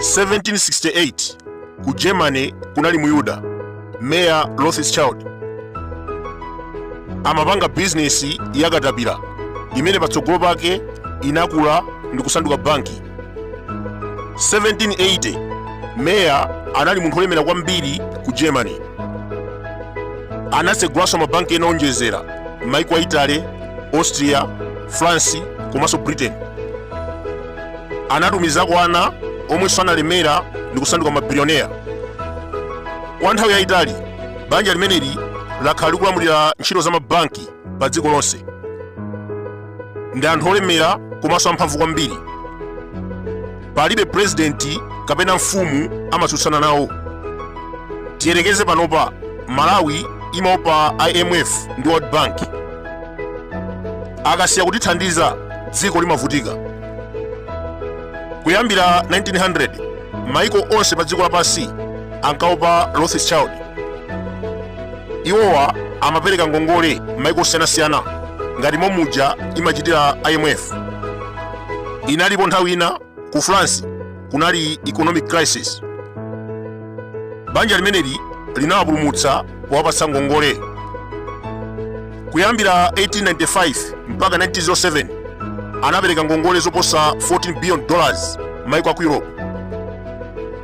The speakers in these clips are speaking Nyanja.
1768 ku germany kunali muyuda meya rothschild amapanga bizinesi ya katapira imene patsogolo pake inakula ndi kusanduka banki 1780 meya anali munthu olemera kwambiri ku germany anatsegulanso mabanki ena onjezera m'maiko a italy austria france komanso britain anatumizako ana omwenso analemera ndi kusanduka mabilioneya kwa nthawi yayitali banja limeneli lakhala likulamulira ntchito za mabanki pa dziko lonse ndi anthu olemera komanso amphamvu kwambiri palibe purezidenti kapena mfumu amatsutsana nawo tiyerekeze panopa malawi imaopa imf ndi world bank akasiya kutithandiza dziko limavutika kuyambira 1900 maiko onse pa dziko lapansi ankaopa rothschild iwowa amapereka ngongole m'maiko osiyanasiyana ngati momuja imachitira imf inalipo nthawi ina ku france kunali economic crisis banja limeneli linawapulumutsa powapatsa ngongole kuyambira 1895 mpaka 1907 anapereka ngongole zoposa 14 billion dollars maiko aku europe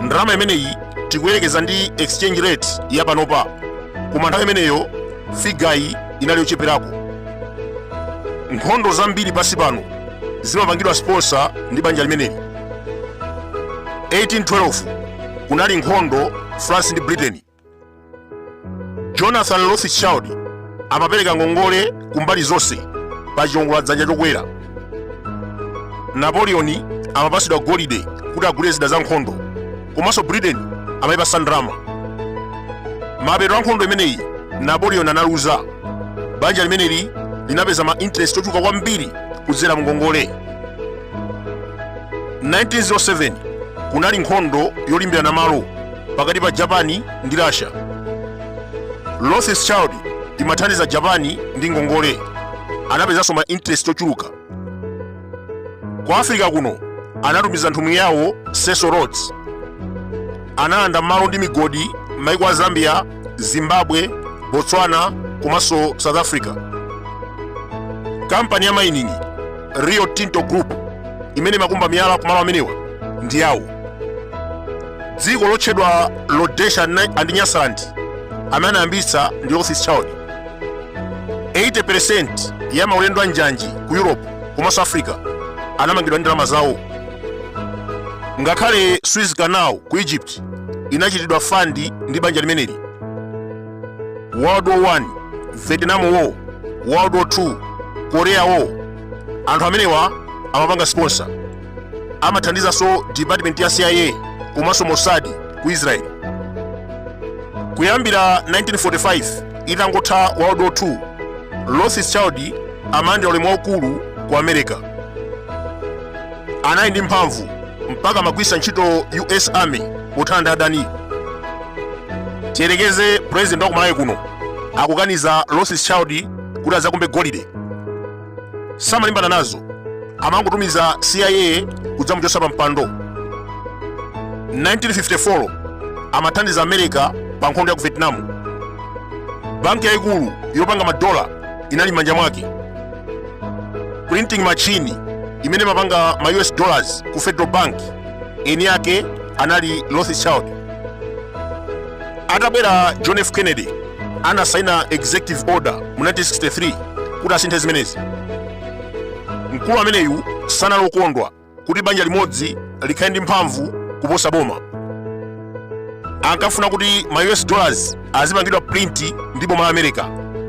ndalama imeneyi tikuyerekeza ndi exchange rate ya panopa koma nthawi imeneyo figayi inali yocheperako nkhondo zambiri pansi pano zimapangidwa sponsor ndi banja limeneli 1812 kunali nkhondo france ndi britain jonathan rothschild amapereka ngongole ku mbali zonse pa chiwongola dzanja chokwera napoleon amapatsidwa golide kuti agule zida za nkhondo komanso britain amayipatsa ndalama mapeto a nkhondo imeneyi napoleon analuza banja limeneli linapeza ma interest ochuluka kwambiri kudzera mu ngongole 1907 kunali nkhondo yolimbirana malo pakati pa Japani ndi Russia. Rothschild imathandiza Japani ndi ngongole, anapezanso ma interest ochuluka. Ku Africa kuno anatumiza nthumwi yawo Cecil Rhodes, analanda malo ndi migodi m'maiko a Zambia, Zimbabwe, Botswana komanso South Africa. Kampani ya mining Rio Tinto Group imene imakumba miyala kumalo amenewa ndi yawo. dziko lotchedwa rhodesia and nyasaland amene anayambitsa ndi rothschild 80% ya maulendo a njanji ku europe komanso africa anamangidwa ndi ndalama zawo ngakhale suez canal ku egypt inachitidwa fandi ndi banja limeneli world war 1 vietnam war world war 2 korea war anthu amenewa amapanga sponsor amathandizanso department ya cia komanso mossad ku israel kuyambira 1945 itangotha world war 2 rothschild amalandira ulemu waukulu ku america anali ndi mphamvu mpaka amagwiritsa ntchito us army pothana ndi adani tiyerekeze president wa ku malawi kuno akukaniza rothschild kuti azakumbe golide samalimbana nazo amangotumiza cia kudzamuchotsa pa mpando 1954 amathandiza america pa nkhondo ya ku vietnam banki yayikulu yopanga madola inali m'manja mwake printing machine imene imapanga ma us dollars ku federal bank eni yake anali rothschild atabwera john f kennedy anasaina executive order mu 1963 kuti asinthe zimenezi mkulu ameneyu sanali okondwa kuti banja limodzi likhale ndi mphamvu kuposa boma ankafuna kuti ma us dollars azipangidwa print ndi boma la america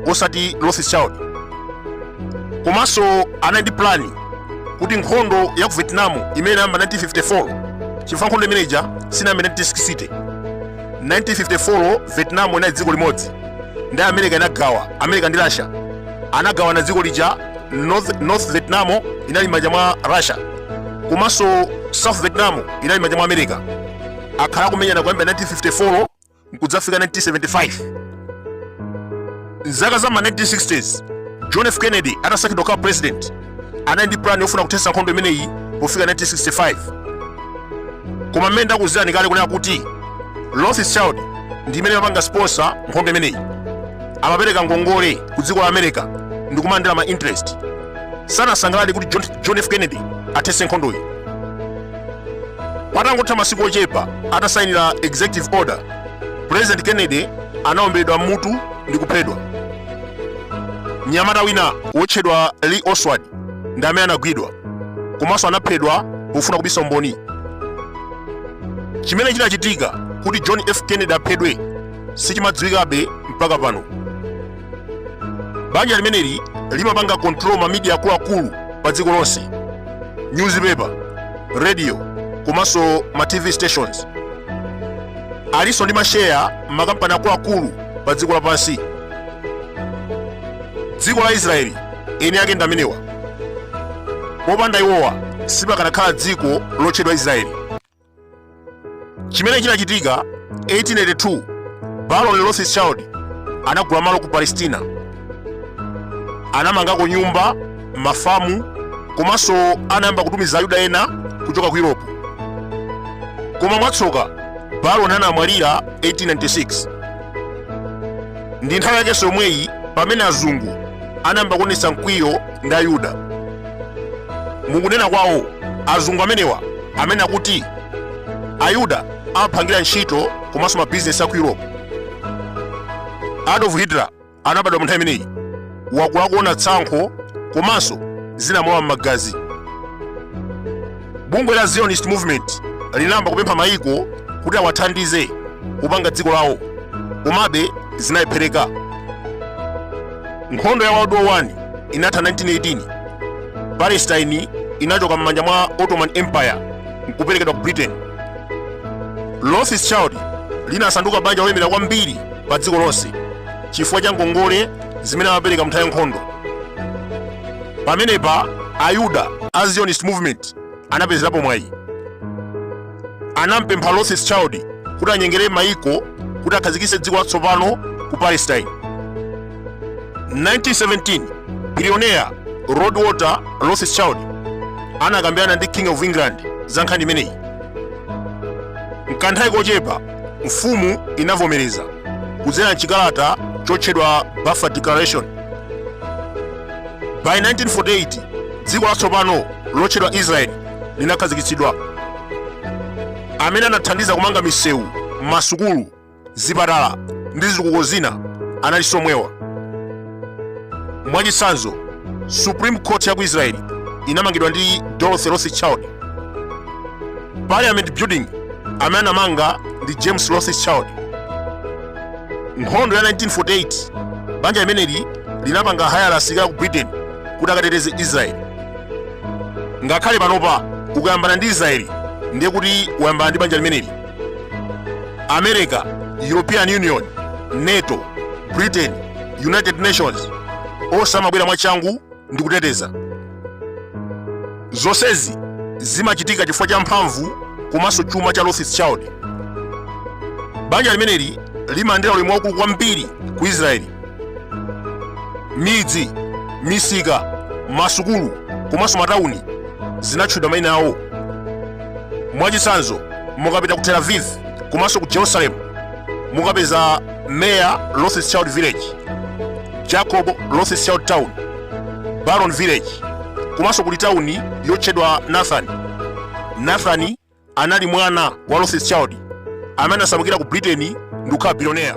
osati rothschild komanso anali ndi plani kuti nkhondo ya ku vietnam imene inayamba 1954 chifukwa nkhondo imeneja sinayambe 1960 1954 vietnam inali dziko limodzi ndi america inagawa america ndi russia anagawana dziko lija north vietnam inali m'manja mwa russia komanso south vietnam inali m'manja mwa america akhala akumenyana kuyambira 1954 nkudzafika 1975 mzaka za ma 1960s john f kennedy atasankhidwa kukhala president anali ndi plan yofuna kuthetsa nkhondo imeneyi pofika 1965 koma mmene ndakuuzirani kale kunena kuti rothschild ndi imene amapanga sponsor nkhondo imeneyi amapereka ngongole ku dziko la america ndi kumalandira ma interest sanasangalale kuti john f kennedy athetse nkhondoyi patangotha masiku ochepa atasainira executive order president kennedy anaomberedwa m'mutu ndi kuphedwa mnyamata wina wotchedwa lee oswald ndi amene anagwidwa komanso anaphedwa pofuna kubisa umboni chimene chinachitika kuti john f kennedy aphedwe sichimadziwikabe mpaka pano banja limeneli limapanga control ma media akuluakulu pa dziko lonse newspaper radio komanso ma tv stations alinso ndi masheya mmakampani akuluakulu pa dziko lapansi dziko la israeli eni ake ndi amenewa popanda iwowa sipakanakhala dziko lotchedwa israeli chimene chinachitika 1882 baron rothschild anagula malo ku palestina anamangako nyumba mafamu komanso anayamba kutumiza ayuda ena kuchoka ku europe koma mwatsoka baron anamwalira 1896 ndi nthawi yakenso yomweyi pamene azungu anayamba kuonetsa mkwiyo ndi ayuda mukunena kwawo azungu amenewa amanena kuti ayuda amaphangira ntchito komanso mabizinesi a ku europe adolf hitler anabadwa mu nthawi imeneyi wakula akuona tsankho komanso zinamulowa m'magazi bungwe la zionist movement linayamba kupempha mayiko kuti awathandize kupanga dziko lawo komabe zinalephereka nkhondo ya world war 1 inatha 1918 palestine inachoka m'manja mwa ottoman empire nkuperekedwa ku britain rothschild linasanduka banja lolemera kwambiri pa dziko lonse chifukwa cha ngongole zimene amapereka mnthawi ya nkhondo pamenepa ayuda a zionist movement anapezerapo mwayi anampempha rothschild kuti anyengere maiko kuti akhazikitse dziko latsopano ku palestine 1917 billionaire lord walter rothschild anakambirana ndi king of england za nkhani imeneyi mkanthawi kochepa mfumu inavomereza kudzera m'chikalata chotchedwa Balfour Declaration. By 1948 dziko latsopano lotchedwa Israeli linakhazikitsidwa. Amene anathandiza kumanga misewu, masukulu, zipatala ndi zitukuko zina anali somwewa. mwachitsanzo supreme court ya ku israeli inamangidwa ndi dorothy rothschild parliament building amene anamanga ndi james rothschild nkhondo ya 1948 banja limeneli linapanga hayala asilikali ku britain kuti akateteze israeli ngakhale panopa ukayambana ndi israeli ndiye kuti wayambana ndi banja limeneli america european union nato britain united nations onse amabwera mwachangu ndi kuteteza zonsezi zimachitika chifukwa cha mphamvu komanso chuma cha Rothschild. Banja limeneli limalandira ulemu waukulu kwambiri ku Israeli. Midzi, misika, masukulu komanso matawuni zinatchedwa mayina awo. mwachitsanzo mukapita ku tel aviv komanso ku jerusalem mukapeza meya rothschild village jacob rothschild town baron village komanso kuli tawuni yotchedwa nathani nathani anali mwana wa rothschild amene anasamukira ku britain ndi kukhala bilionera